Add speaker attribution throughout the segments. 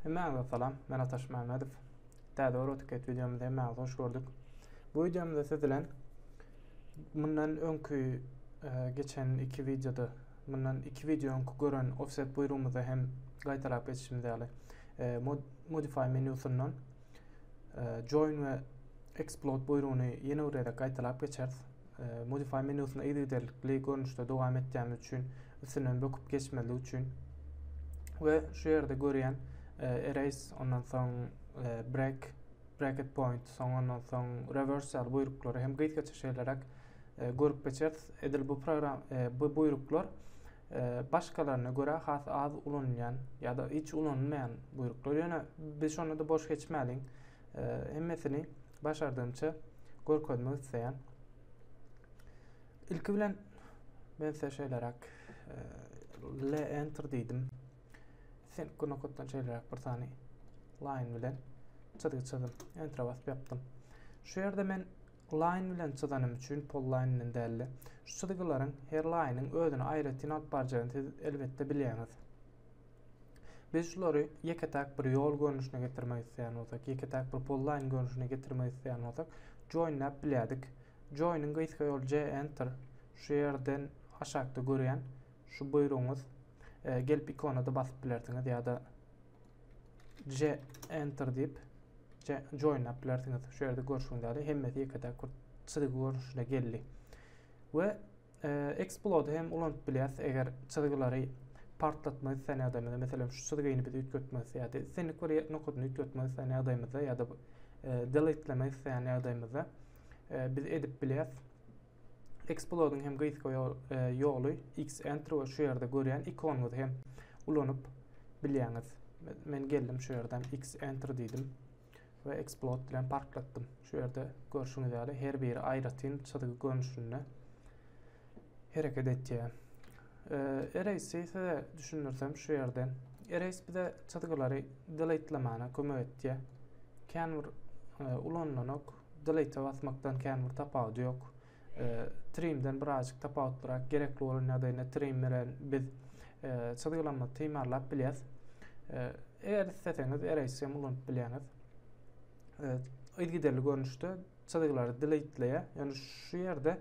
Speaker 1: Hemmäňize salam, men Ataş Mämmedow. Täze Euroticket wideomyza hemmäňizi hoş gördük. Bu wideomyzda siz bilen mundan öňki e, geçen iki wideoda, mundan iki wideo öňki gören offset buýrugymyzda hem gaýtalap geçişimiz ýaly e, modify menýusyndan e, join we explode buýrugyny ýene bir gezek gaýtalap geçeris. Modify menusyna yzygiderlikli görnüşde dowam etýämiz üçin üstünden böküp geçmezlik üçin we şu ýerde görýän e, erase ondan soň e, break bracket point soň ondan soň reverse ýaly buýruklary hem gysga çeşelerek e, görüp geçeris. Edil bu program bu buýruklar başgalaryna görä has az ulanylýan ýa-da hiç ulanylmaýan buýruklar. Ýöne biz şonda-da boş geçmäliň. Hemmesini başardygymça görkezmek isleýän. Ilki bilen men size şeýleräk L enter diýdim. Sen nokatdan şeýleräk bir sany line bilen çyzgy çyzdym. Enter basyp ýapdym. Şu ýerde men line bilen çyzanym üçin pol line bilen däldi. Şu çyzgylaryň her line-iň özüne aýratyn alyp barjagyny siz elbetde bilýäňiz. Biz şulary ýeke-täk bir ýol görnüşine getirmek isleýän bolsak, ýeke-täk bir pullaýyn görnüşine getirmek isleýän bolsak, joinläp bilýärdik. Joiniň gysga ýoly J Enter. Şu ýerden aşakda görýän şu buýrugyňyz e, gelip ikonada basyp bilersiňiz ýa-da J Enter diýip joinläp bilersiňiz. Şu ýerde görşüňiz ýaly hemmesi ýeke-täk bir çyzgy görnüşine geldi. We Explode hem ulanyp bilýäs, eger çyzgylary partlatmak isleýän ýagdaýymyzda, meselem, şu çyzgyny biz üýtgetmek isleýäris. Islendik bir nokadyny üýtgetmek isleýän ýagdaýymyzda ýa-da e, deletlemek isleýän ýagdaýymyzda e, biz edip bilýäris. Explode-yň hem gysga e, ýoly Xenter we şu ýerde görýän ikonyňyzy hem ulanyp bilýäňiz. Men geldim şu ýerden Xenter diýdim. we Explode bilen parklatdym. Şu ýerde görşüňiz ýaly her biri aýratyn çyzgy görnüşinde hereket etýär. E, Erase-i size düşündirsem şu ýerden. Erase bize çyzgylary deletelemana kömek etýär. Kän bir e, ulanlanok. Delete basmakdan kän bir tapawudy ýok. Trimden birazjyk tapawutlyrak gerekli bolan ýagdaýynda trim bilen biz e, çyzgylama timarlap bilýäris. E, eger isleseňiz erase hem ulanyp bilýäňiz. E, yzgiderli görnüşde çyzgylary deleteýär. Ýöne şu ýerde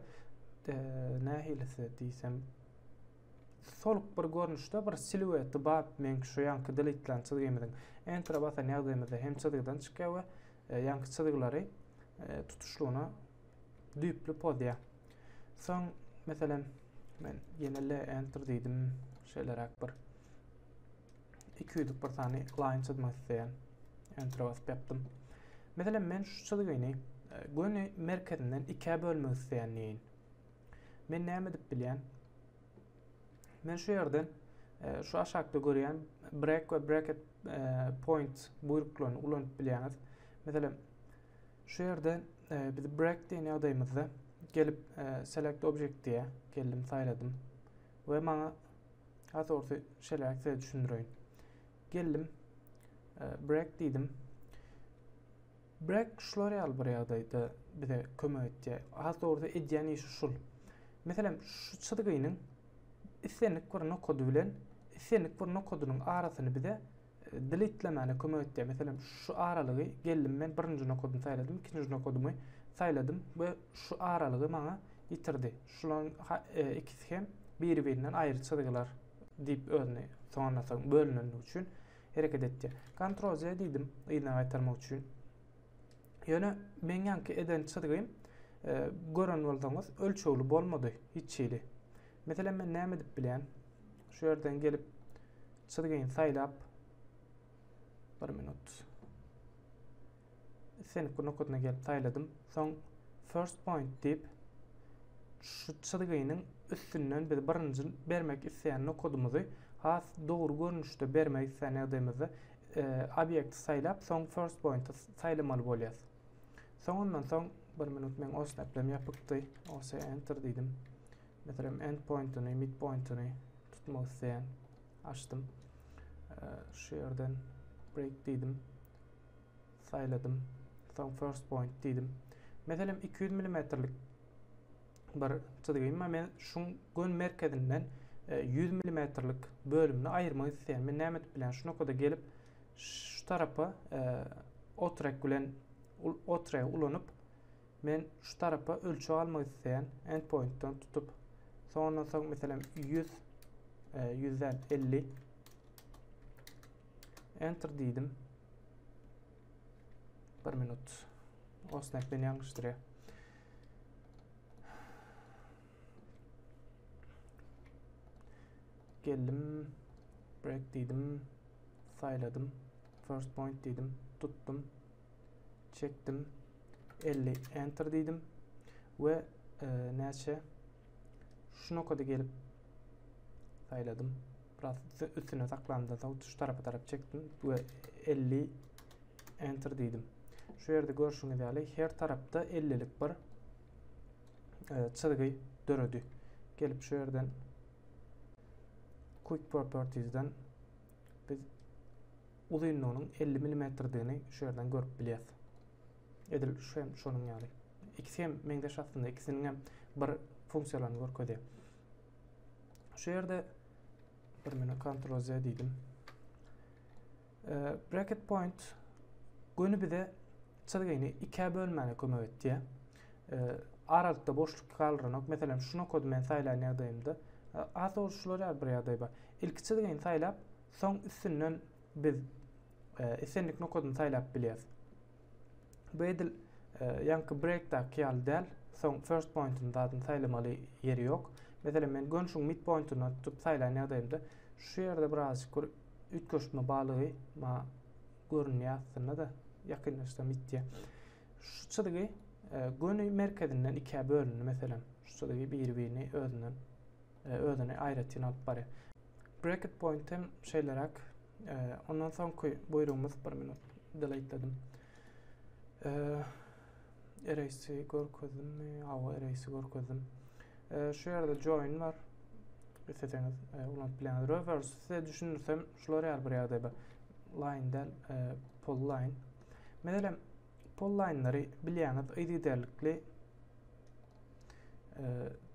Speaker 1: nähilisi diýsem soluk bir görnüşde bir silueti bar meňki şu ýanky deletlän çyzgymyzyň entere basan ýagdaýymyzda hem çyzgydan çykýar we ýanky çyzgylary tutuşlygyna düýpli pozýar. Soň, meselem, men ýene L enter diýdim. Şeýleräk bir 200-lük bir sany line çyzmak isleýän. Enter basyp ýapdym. Meselem, men şu çyzgyny e, göni merkezinden ikä bölmek isleýän diýin. Men näme edip bilýän? Men şu ýerden e, şu aşakda görýän break we bracket e, point buýruklaryny ulanyp bilýäňiz. Meselem, Şu ýerde e, biz break diýen ýagdaýymyzda gelip e, select object diýä. Geldim, saýladym. We maňa asorsy şeläk size düşündireýin. Geldim, e, break diýdim. Break şular ýaly bir ýagdaýda bize kömek etýär. Asorsy edýän işi şul. Meselem, şu çyzgynyň islendik bir nokady bilen islendik bir nokadynyň arasyny bize Dilitlemaga kömek etýär. Meselem, şu aralygy geldim men birinji nokadyny saýladym, ikinji nokadymy saýladym we şu aralygy maňa ýitirdi. Şularyň e, ikisi hem biri-birinden aýry çyzgylar diýip özüni soňuna soň bölünenligi üçin hereket etýär. Ctrl Z diýdim yzyna gaýtarmak üçin. Ýöne meň ýanky eden çyzgym e, gören bolsaňyz ölçegli bolmady hiç hili. Meselem men näme edip bilýän? Şu ýerden gelip çyzgyny saýlap bir minut. Islenip bu nokadyna gelip saýladym. Soň first point diýip şu çyzgynyň üstünden biz birinji bermek isleýän nokadymyzy has dogry görnüşde bermek isleýän ýagdaýymyzda e, obýekti saýlap soň first pointy saýlamaly bolýar. Soň ondan soň bir minut men os näplem ýapykdy. OS enter diýdim. Meselem end pointyny, mid pointyny tutmak isleýän. Açdym. Şu ýerden break diýdim. Saýladym. Soň first point diýdim. Meselem 200 mmlik bir çyzgy emma men şuň gön merkezinden 100 e, mmlik bölümini aýyrmak isleýän. Men näme edip bilýän? Şu nokada gelip Şu tarapa e, otrek bilen otrek ulanyp men şu tarapa ölçeg almak isteýän endpointdan tutup sonra soň meselem 100 e, 100 50 enter diýdim. 1 minut. Osnek beni ýalňyşdyrýar. Geldim. Break diýdim. Saýladym. First point diýdim. Tutdum. Çekdim. 50 enter diýdim. We e, näçe şu nokada gelip saýladym. Biraz üstüne saklamda soň şu tarapa tarap çekdim we 50 enter diýdim. Şu ýerde görşüňiz ýaly her tarapda 50 lik bir e, çyzgy döredi. Gelip şu ýerden Quick Properties'den biz uzynlygynyň 50 mm'digini şu ýerden görüp bilýäs. Edil şu hem şonuň ýaly. İkisi hem meňzeş aslynda, ikisiniň hem bir funksiýalaryny görkezýär. Şu ýerde bir meni Ctrl Z diýdim. Bracket point göni bize çyzgyny ikä bölmäne kömek etýär. Aralykda boşluk galdyranok. Meselem, şu nokady men saýlan ýagdaýymda az soruşylar bir ýagdaý bar. Ilki çyzgyny saýlap, soň üstünden biz islendik nokadyny saýlap bilýäris. Bu edil ýaňky breakdaky ýaly däl. Soň first pointyny zadyny saýlamaly ýeri ýok. Meselem, men gönşüň mid pointyny tutup saýlan ýagdaýymda şu ýerde birazjyk bir Üýtgeşme balygy maňa görünýär aslynda-da, ýakynlaşsam ýitýär. Şu çyzgy e, göni merkezinden ikä bölündi meselem. Şu çyzgy biri-birini özünden e, özüni aýratyn alyp barýar. Bracket point hem şeýleräk. E, ondan soňky buýrugymyz bir minut deleteledym. E, Eresi görkezdimmi? Hawa, eresi görkezdim. E, şu ýerde join bar. Isleseňiz e, ulanyp bilen. Reverse size düşündirsem şular ýaly bir ýagdaý bar. Line del e, pull line. Meselem, pull line'lary bilýäňiz, yzygiderlikli e,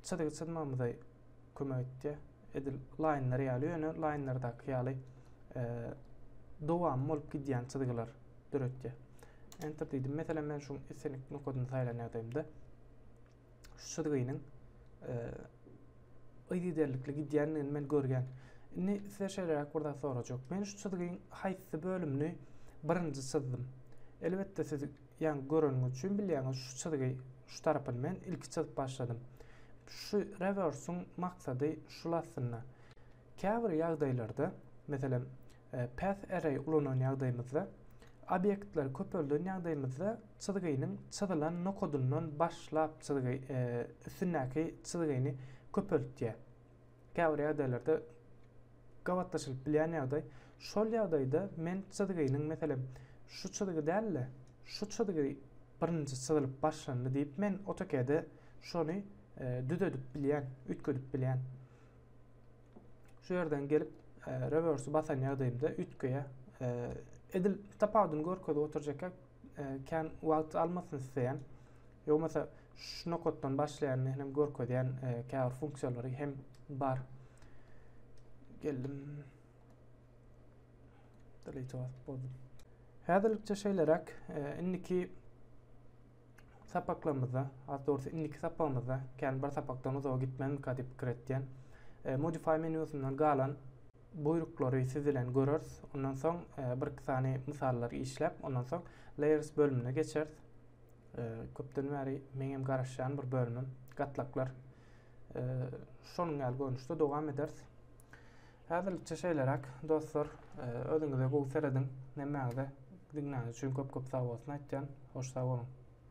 Speaker 1: çyzgy çyzmamyza kömek etdi. Edil laýnlar ýaly, ýöne laýnlardaky ýaly dowam bolup gidýän çyzgylar döretýär. Enter diýdim. Meselem, men şu islendik nokadyny saýlan ýagdaýymda şu çyzgynyň yzygiderlikli gidýändigini men görýän. Indi size şeýleräk bir zat sorajak. Men şu çyzgyň haýsy bölümini birinji çyzdym? Elbetde siz Ýaňy göreniň üçin bilýäňiz şu çyzgy şu tarapyny men ilki çyzyp başladym. Şu rewersiň maksady şul aslynda. Käbir ýagdaýlarda meselem path array ulanan ýagdaýymyzda obýektleri köpelden ýagdaýymyzda çyzgynyň çyzylan nokadyndan başlap çyzgy üstündäki çyzgyny köpeltýär. Käbir ýagdaýlarda gabatlaşylyp bilýän ýagdaý, şol ýagdaýda men çyzgynyň, meselem, şu çyzgy däl-de, şu çyzgy birinji çyzylyp başlandy diýip, men AutoCAD-e şony düzedip bilýän, üýtgedip bilýän. Şu ýerden gelip, reverse basan ýagdaýymda üýtgeýär. Edil tapawudyny görkezip oturjak Kän wagt almasyn isleýän. Ýogmasa şu nokatdan başlaýan hem görkezýän käbir funksiýalary hem bar. Geldim. Delete basyp boldum. Häzirlikçe şeýleräk. Indiki sapaklarymyzda, az dogrusu indiki sapagymyzda, kän bir sapakdan uzaga gitmänmika diýip pikir etýän. Modify menýusyndan galan buýruklary siz bilen göreris. Ondan soň e, bir-iki sany mysallary işläp, ondan soň layers bölümine geçeris. E, köpden bäri meňem garaşýan bir bölümim gatlaklar. E, şonuň ýaly görnüşde dowam ederis. Häzirlikçe şeýleräk dostlar, e, özüňize gowy serediň. Nämäňize diňläniň üçin köp-köp sag bolsun aýtýan. Hoş sag boluň.